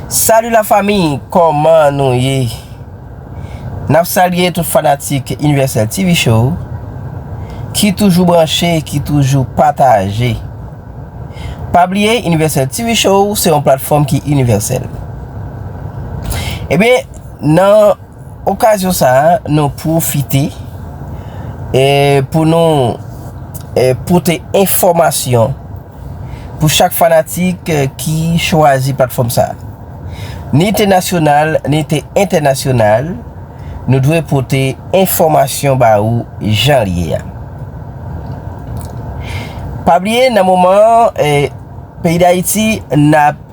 Salut la famille koman nou ye nap salye tout fanatik universel TV show ki toujou branche ki toujou pataje pa bliye universel TV show se yon platfom ki universel ebyen nan okasyon sa nou profite pou nou pote enfomasyon pou chak fanatik ki chwazi platfòm sa. Ni te nasyonal, ni te entènasyonal, nou dwe pote enfòmasyon ba ou jan l ye a. Pa bliye nan moman an, peyi Dayiti n ap.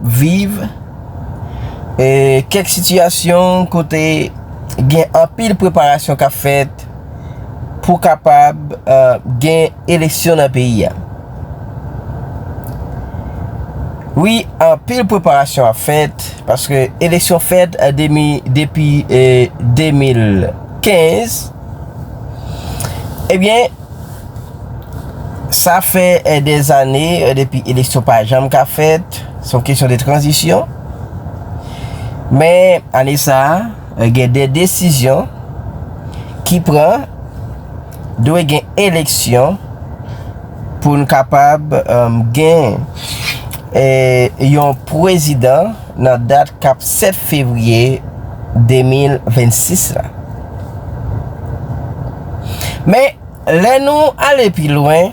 viv e kèk sitiyasyon kote gen anpil preparasyon k ap fèt pou kapab gen eleksyon nan peyi a wi anpil preparasyon ap fèt paske eleksyon fèt demi depi 2015 ebyen Sa fè des ane depi eleksyon pa janm ka fèt, se yon kesyon de tranzisyon. Men, ane sa, gen de desizyon ki pran, dwe gen eleksyon pou n kapab gen yon pwezidan. Nan dat kap 7 fevriye 2026 la. Men, lè nou ale pi lwen,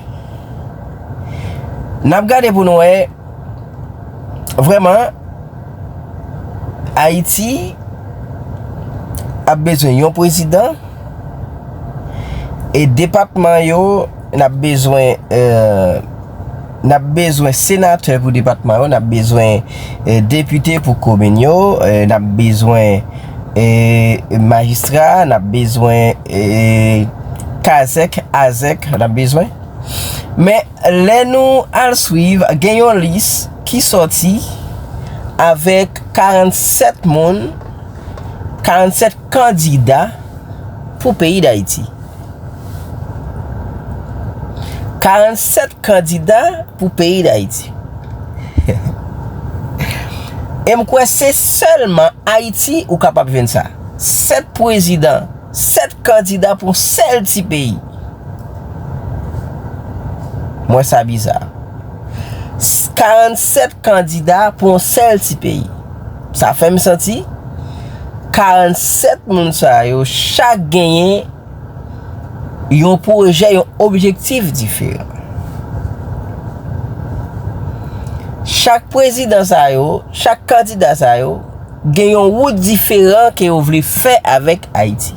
n ap gade pou nou wè, vrèman, Ayiti ap bezwen yon pwezidan e depatman yo, Nap bezwen Nap bezwen senatè pou depatman yo Nap bezwen depite pou komin yo Nap bezwen majistra Nap bezwen kazèk, azèk Nap bezwen Men lè nou al swiv gen yon lis ki sòti avèk 47 moun 47 kandida pou peyi dayiti 47 kandida pou peyi Dayiti. E m kwè se sèlman Ayiti ou kapab jwenn sa. 7 pwezidan, 7 kandida pou yon sèl ti peyi. M wè sa biza. 47 kandida pou yon sèl ti peyi. Sa fè m santi 47 moun sa yo chak genyen yon pwojè, yon objektif diferan. Chak prezidan sa yo, chak kandida sa yo, gen yon wout diferan ke yo vle fè avèk Ayiti.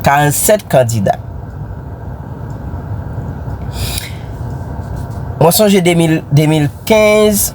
47 kandida. Mwen sonje 2015,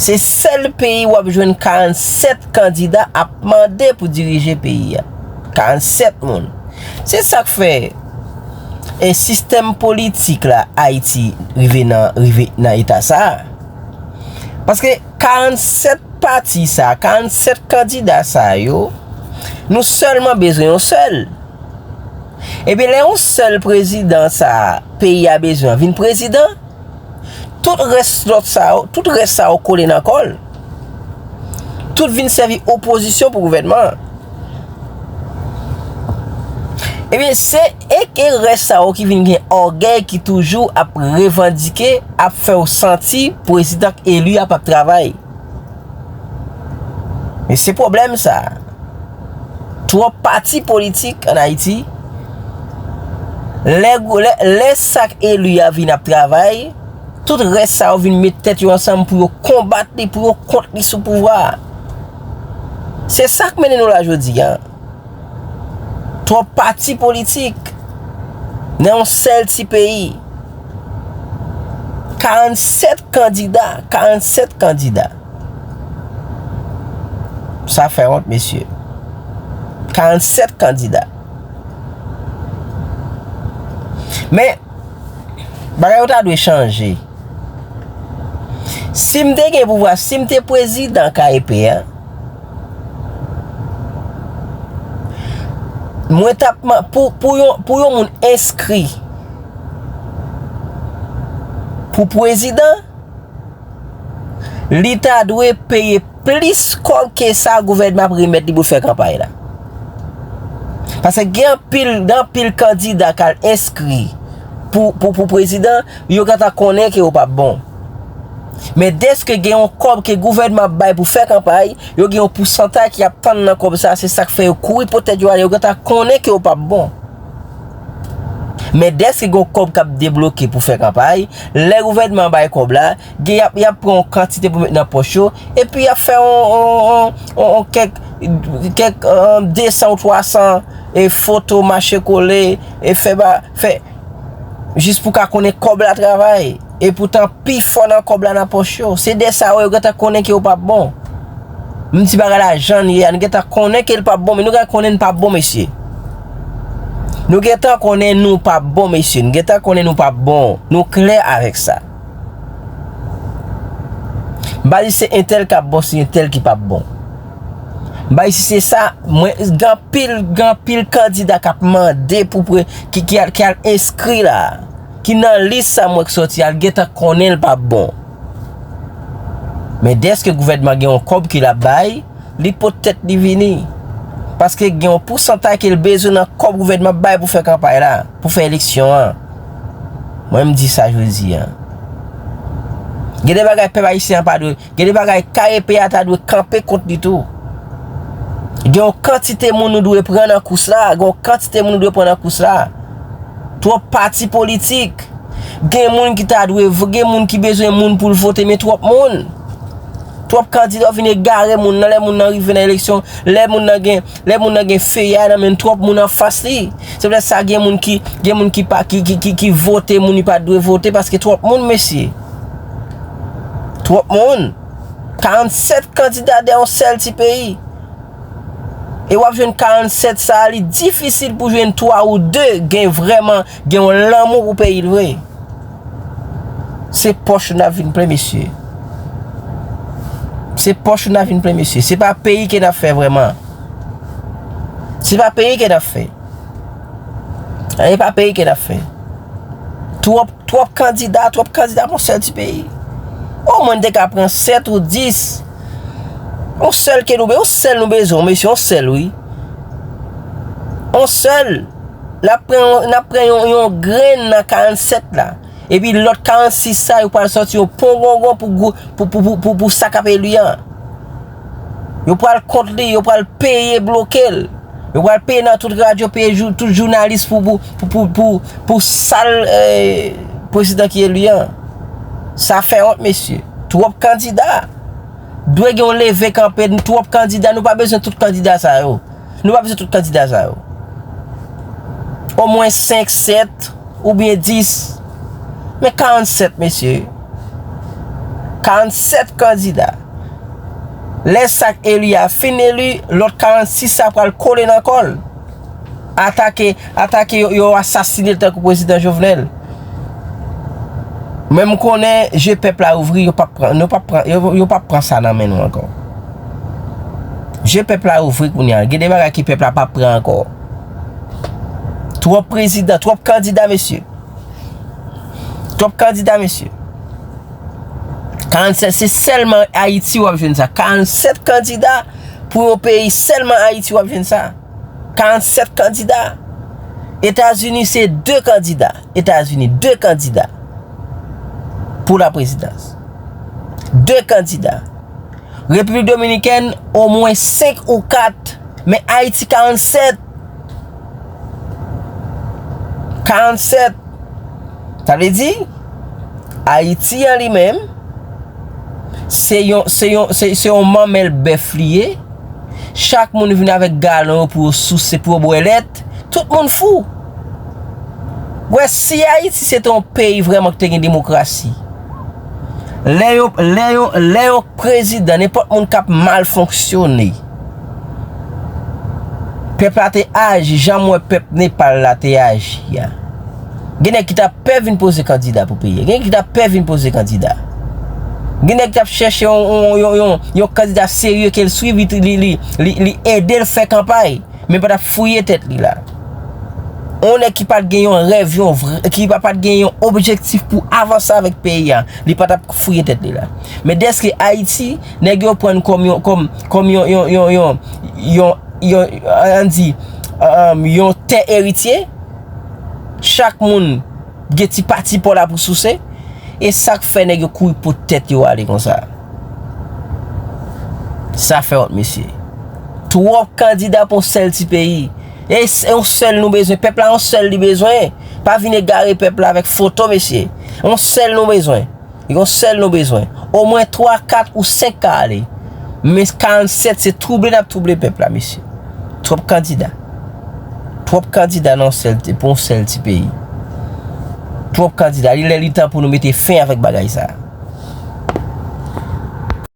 Se sèl peyi wap jwenn 47 kandida ap mande pou dirije peyi a. 47 moun. Se sak fè e sistèm politik la Ayiti rive nan rive nan eta sa. Paske 47 pati sa, 47 kandida sa yo, nou sèlman bezwen yon sèl. Ebyen lè yon sèl prezidan sa peyi a bezwen vin prezidan. Tout rès lòt sa yo, tout rès sa yo kole nan kò l. Tout vin sèvi opozisyon pou gouvènman an. Ebyen, se ek e rès sa yo ki vin gen ògèy ki toujou ap revandike, ap fè w santi pwezidan k eli a p ap travay. E se pwoblèm sa a. Twòp pati politik an Ayiti, lè sa k elu a vin ap travay, tout rès sa yo vin met tèt yo ansanm pou yo konbat li, pou yo kont li sou pouvwa a. Se sa k mennen nou la jodi a. Twòp pati politik nan yon sèl ti peyi. 47 kandida, 47 kandida. Sa fè wont mesye. 47 kandida. Men, bagay yo ta dwe chanje. Si m te gen pouvwa, si m te prezidan KEP a, mwen t ap mande, pou yon moun enskri pou prezidan, Li ta dwe peye plis kòb ke sa gouvènman ap remèt li pou l fè kanpay la. Paske gen anpil, gen anpil kandida k al enskri pou, pou, pou prezidan, yo gentan konnen ke yo p ap bon. Men dèske gen yon kòb ke gouvènman ap bay pou fè kanpay, yo gen yon pousantay ki ap tann nan kòb sa, se sa k fè yo kouri pote tèt yo ale, yo gentan konnen ke yo p ap bon. Men dèske gen yon kòb k ap debloke pou fè kanpay, lè gouvènman an bay kòb la, gen y ap y ap pran yon kantite pou met nan pòch yo, epi y ap fè yon kèk, kèk 200 ou 300 foto mache kole, fè, jis pou ka konnen kòb la travay. E poutan pi fò nan kòb la nan pòch yo. Se de sa wè yo gentan konnen ke yo pap bon. Menm ti bagay la jann ye a nou gentan konnen ke li pap bon men nou gentan konnen nou pap bon mesye. Nou gentan konnen nou pap bon mesye. Nou gentan konnen nou pap bon. Nou klè avèk sa. M'pa di se entèl kap bon se entèl ki pap bon. M'pa di si se sa mwen gen pil gen pil kandida kap mande pou ki al enskri la. Ki nan lis sa m wè k sòti a l gentan konnen l pap bon. Men dèske gouvènman gen yon kòb ke l ap bay, li pot tèt li vini. Paske gen yon pousantay ke l bezwen nan kòb gouvènman ap bay pou fè kanpay la, pou fè eleksyon an. Mwen m di sa jodi a. Gen de bagay pèp ayisyen an pa dwe. Gen de bagay KEP a ta dwe kanpe kont li tou. Gen yon kantite moun nou dwe pran nan kous la, gen yon kantite moun nou dwe pran nan kous la. Twòp pati politik. Gen moun ki ta dwe, gen moun ki bezwen moun pou l vote men twòp moun. Twòp kandida ou vin egare moun nan lè moun nan rive nan eleksyon, lè moun nan gen, lè moun nan gen feye a nan men l twòp moun an fas li. Se poutèt sa gen moun ki, gen moun ki pa, ki, ki, ki, ki vote moun li pa dwe vote paske twòp moun mesye. Twòp moun. 47 kandida de yon sèl ti peyi. E wap jwenn 47 sa li difisil pou jwenn 3 ou 2 gen vreman gen yon lanmou pou peyi l vre. Se pòch nou nap vin plen mesye. Se pòch nou nap vin plen mesye. Se pa peyi ke nap fè vreman. Se pa peyi ke nap fè. E pa peyi ke nap fè. Twòp twòp kandida twòp kandida pou yon sèl ti peyi o mwen te ka pran 7 ou 10 yon sèl ke nou yon sèl nou bezwen mesye yon sèl wi yon sèl nap pran yon nap pran yon yon grenn nan 47 la epi lòt 46 sa yo pral sòti yon pongongon pou pou pou pou sa kap elu an. Yo pral kont li, yo pral peye bloke l. Yo pral peye nan tout radyo, peye tout jounalis pou sal prezidan ki eli an. Sa fè wont mesye. Twop kandida. Dwe gen yon leve kanpe, twop kandida. Nou pa bezwen tout kandida sa yo. Nou pa bezwen tout kandida sa yo. Omwen 5, 7 oubyen 10. Men 47 mesye. 47 kandida. Lè sa k eli a fin eli, lòt 46 sa pral kole nan kò l. Atake, atake yo, yo asasine l tankou prezidan Jovenel. Men m konnen je pèp la ouvri, yo pa pran, yo pa pran, yo pa pran sa nan men nou ankò. Je pèp la ouvri kounya. Gen de bagay ke pèp la pap pran ankò. Twòp prezidan, twòp kandida mesye. Twòp kandida mesye. 47 se sèlman Ayiti wap jwenn sa. 47 kandida pou yon peyi sèlman Ayiti wap jwenn sa. 47 kandida. Etazini se 2 kandida. Etazini 2 kandida pou la prezidans. 2 kandida. Repiblik Dominikèn omwen 5 ou 4, men Ayiti 47! 47! Sa vle di, Ayiti an li menm, se yon, se yon, se yon manmèl bèf li ye, chak moun vin avèk galon yo pou yo souse, pou yo bwè lèt, tout moun fou! Wè, si Ayiti se te yon peyi vrèman ki te gen demokrasi, Lè yo, lè yo, lè yon prezidan, nenpòt moun k ap mal fonksyone, pèp la te aji jan m wè pèp Nepal la te aji a. Gen nèg ki ta pè vin poze kandida pou peyi a. Gen nèg ki ta pè vin poze kandida. Gen nèg ki ap chèche yon, yon, yon, yon kandida serye ke l swiv, li, li, li, li ede l fè kanpay. Men pa tap fouye tèt li la. On nèg ki pat gen yon rèv, yon vre, ki pa pat gen yon objektif pou avanse avèk peyi a, li pa tap fouye tèt li la. Men dèske Ayiti, nèg yo pran kòm yon, kòm, kòm yon, yon, yon, yon, yon, yon, an di, yon tè eritye, chak moun. Gen ti pati paw la pou souse. E sak fè nèg yo kouri pot tèt yo ale konsa. Sa fè wont mesye. Twòp kandida pou yon sèl ti peyi. E yon sèl nou bezwen. Pèp la yon sèl li bezwen. Pa vin egare pèp la avèk foto mesye. Yon sèl nou bezwen. Yon sèl nou bezwen. Omwen 3, 4 ou 5 ka ale. Men 47 se twouble n ap twouble pèp la mesye. Twòp kandida. Twòp kandida nan yon sèl, pou yon sèl ti peyi. Twòp kandida. Li lè li tan pou nou mete fen avèk bagay sa a.